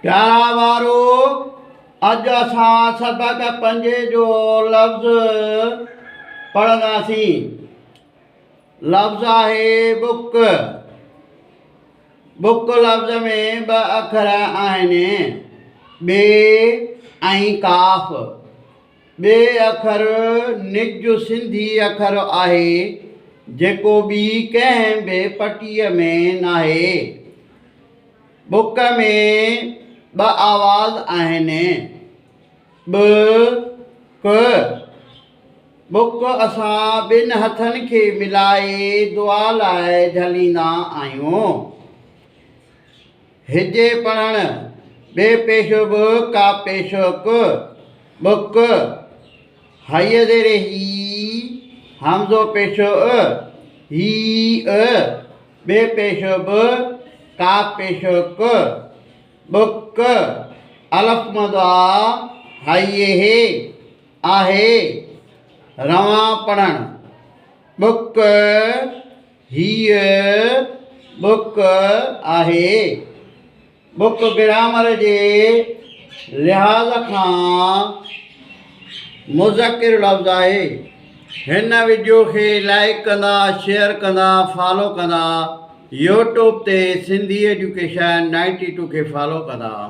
پيارا وارو، اڄ اسان سبق پنجين جو لفظ پڙهنداسين. لفظ آهي بڪ. بڪ لفظ ۾ ٻه اکر آهن، ٻي ۽ ڪاف. ٻي اکر نج سنڌي اکر آهي جيڪو ٻي ڪنهن به پٽيء ۾ ناهي. ٻک ۾ ٻه آواز آهن، ٻ، ڪ. ٻک اسان ٻن هٿن کي ملائي دعا لاء جهليندا آهيون. هجي پڙهڻ ٻي پيشو به ڪا پيشوڪ ٻوڪ هيء زير هي همزو پيشو ء هي ء ٻي پيشو به ڪا پيشوڪ ٻوڪ الف مد آ هيء هي آهي روان پڙهڻ ٻوڪ هيء بڪ آهي. بڪ گرامر جي لحاظ کان مذڪر لفظ آهي. هن وڊيو کي لائيڪ ڪندا شيئر ڪندا فالو ڪندا يوٽوب تي سنڌي ايجوڪيشن نائنٽي ٽو کي فالو ڪندا.